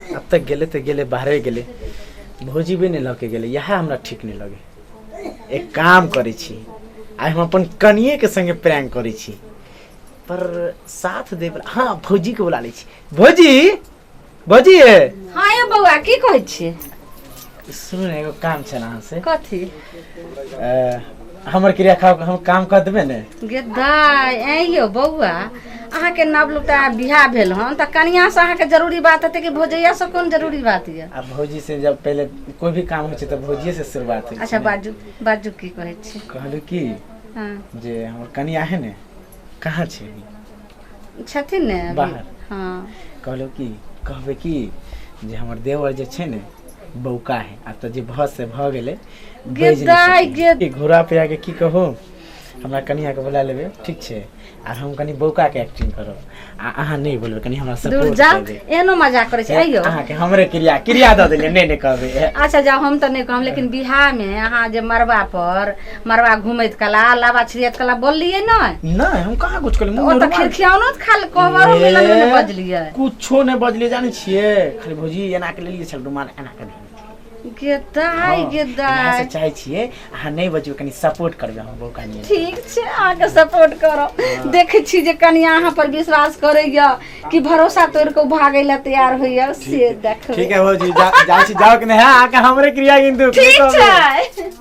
अब तक गेले तो गेले बाहरे गेले भौजी भी नहीं लके गेले यहाँ हमरा ठीक नहीं लगे एक काम करे छी आइ हम अपन कनिए के संगे प्रैंक करे छी पर साथ दे वाला हाँ भौजी के बुला ले छी भौजी भौजी हाँ यौ बौआ की कहै छियै सुनू ने एगो काम छल अहाँ से कथी अ, हमर क्रिया खाओ हम काम कर देबे ने गे दाय ऐं यौ बौआ अहाँके नव लुटा बियाह भेल हन तऽ कनियासँ अहाँके जरूरी बात हेतै कि भौजैयासँ कोन जरूरी बात यऽ आ भौजी से जब पहले कोई भी काम होइ छै तऽ भौजिये से शुरुआत होइ अच्छा बाजू बाजू की कहै छी कहलू कि हँ जे हमर कनिया है ने कहाँ छै अभी? छथिन ने अभी बाहर। हँ कहलहुँ की कहबै की जे हमर देवर जे छै ने बौका है आब तऽ जे भऽ से भऽ गेलै बाजि नहि गेदाइ सकैए। गेद- ई घोड़ा पे आके की कहू हमरा कनियाके बोला लेबै ठीक छै आर हम कनि बौकाके एक्टिंग करब आ अहाँ नहि बोलबै कनि हमरा दूर सपोर्ट जा करबै एहनो मजाक करै छै अयौ अहाँके हमरे क्रिया क्रिया दऽ देलियै नहि नहि कहबै अच्छा जाओ हम तऽ नहीं कहब लेकिन बिहार में अहाँ जे मरबा पर मरवा घूमैत कला लाबा छिड़ियत कला बोललियै नहि नहि हम कहाँ कुछ कहलियै ओ मुँह तऽ नोरवा- खिड़खियानो तऽ खाली कोहबरो ए, मिलन नहि बजलियै कुछो नहि बजलियै जानै छियै खाली भौजी एना के लेलियै छल रुमाल एना के देने छियै। गेदाइ हँ, गेदाइ एना से चाहै छियै अहाँ नहि बजबै कनि सपोर्ट करबै हम बौका नहीं ठीक छै अहाँके सपोर्ट करब देखै छी जे कनिया अहाँ पर विश्वास करैया कि भरोसा तोड़ कऽ भागै लए तैयार होइया से देखबै ठीक है भौजी जा- जाइ छी जाओ कि नहीं हाँ, आके हमरे क्रिया किन्तु ठीक छै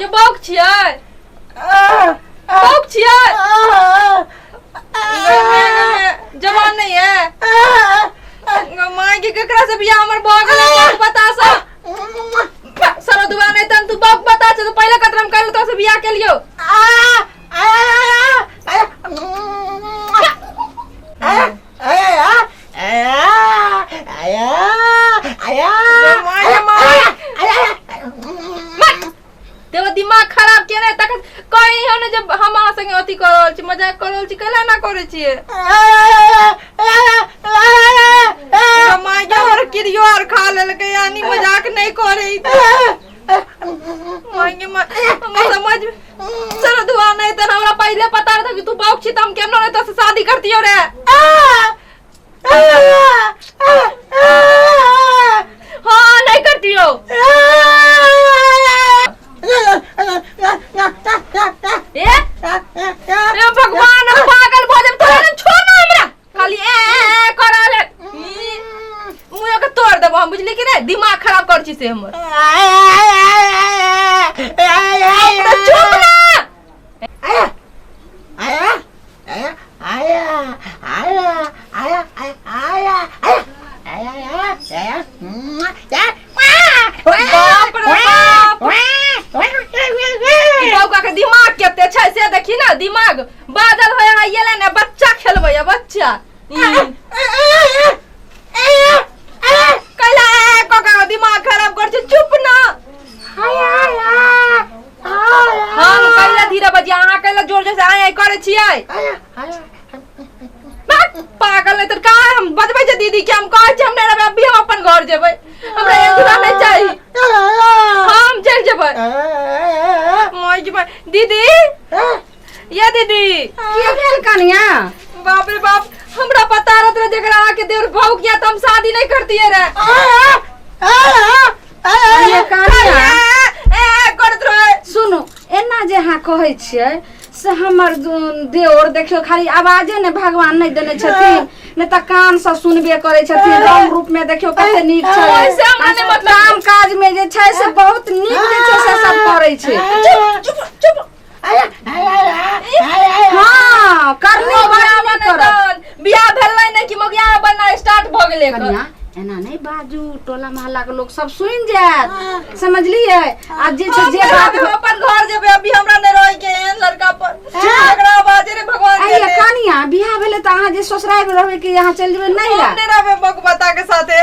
ये बौक छियै बौक छियै जवान नहीं है माय के केकरा से बियाह हमर भऽ गेलै बौक बतासा सरो दुआ नहीं तन तू बौक बता छ तो पहले कतरम कर तो से बियाह के लियो तेरा दिमाग खराब किया नहीं तक कहीं हो ने जब हम अहाँ संगे अथी कर रहल छी मजाक कर रहल छी कैला ना करे छिए माय के हमर किरियो आर खा लेलकै यानी मजाक नहीं करे ई तऽ। मांगे मा- हमर समझ में सर दुआ नहीं तो हमरा पहले पता रहता कि तू बाप छी त हम केना नहीं तो से शादी करतियो रे हां नहीं करतियो ए ए भगवान हम पागल भऽ जाब तोरा छोड़ ना हमरा खाली ए ए करल मुंह के तोड़ देबो हम बुझली कि नहीं दिमाग खराब कर छी से हमर तो चुप ना बाप रे बाप ई बौका के दिमाग केते छै से देखी ना दिमाग बादल होय है ये लेने बच्चा खेलबै है बच्चा ई कैला ए कोका के दिमाग खराब कर छै चुप ना हम कैला धीरे बजिया अहाँ कैला जोर जोर से आय आय करे छियै बात पागल है तो का हम बजबै जे दीदी के हम कहै छै हम नहि रहबै अभी हम अपन घर जेबै हमरा एक दूरा नहि चाही हम चल जेबै मोय जेबै दीदी ये दीदी की भेल कनिया बाप रे बाप हमरा पता रहत रहे जेकरा आके देवर भाव किया तो हम शादी नहीं करती है रे अरे कनिया ए करत रहे सुनू एना जे अहाँ कहै छियै से हमर दु- देवर देखियो खाली आवाजे ने भगवान नहि देने छथिन ने तऽ कान से सुनबे करै छथिन रंग रूप में देखियो कते नीक छै ओहिसे हमरा नहि मतलब- काम काज में जे छै से बहुत नीक जे छै से सब करै छै चुप चुप चुप हाँ करनी बड़ा मन करत बियाह भेलै ने कि मगिया बनना स्टार्ट भ गेलै एकर। कनिया एना नहीं बाजू टोला मोहल्ला के लोग सब सुन जात समझलिए आ जे से हम जे केना बात हम अपन घर जेबै अभी हमरा नहि रहै के एहन लड़का पर एकरा बाजे रे भगवान आइए जाने। कनिया बियाह भेले त अहाँ जे ससुराल में रहबे कि यहाँ चल जेबे नहीं हम ला नहि रहबै बक बता के साथे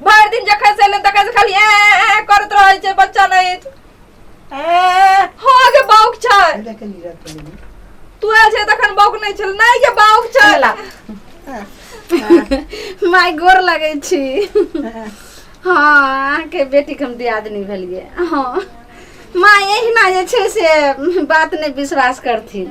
भरि दिन जखन से एलहुँ तखन से खाली ए ए, ए करैत रहै छै बच्चा नहि अछि ए, हो गे बाउक छै एहिजा के लीडर के लेली। तू आयल छै तखन बाउक नहि छल नहि गे बाउक छै चला। माय गोर लगै छी हँ, हँ अहाँके बेटीके हम दियादनी भेलियै हँ माँ एहिना जे छै से बात नहि विश्वास करथिन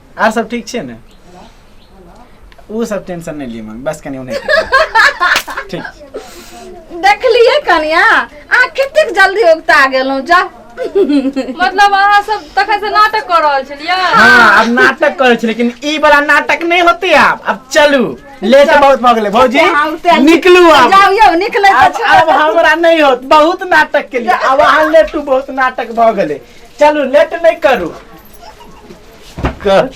आर सब ठीक छै ने ओ सब टेंशन नहीं लिए मम्मी बस कनी उन्हें ठीक देखलिए कनिया अहाँ कतेक जल्दी उगता गेलहुँ जा मतलब अहाँ सब तखन से नाटक कर रहल छलियै हाँ अब नाटक करे लेकिन ई वाला नाटक नहीं होते आप अब चलू लेट बहुत भऽ गेलै भौजी हाँ, उठते हैं। निकलू आब जाओ यो निकले आब आब हमरा नहीं होत बहुत नाटक के लिए आब अहाँ लेटू बहुत नाटक भऽ गेलै चलू लेट नहि करू कट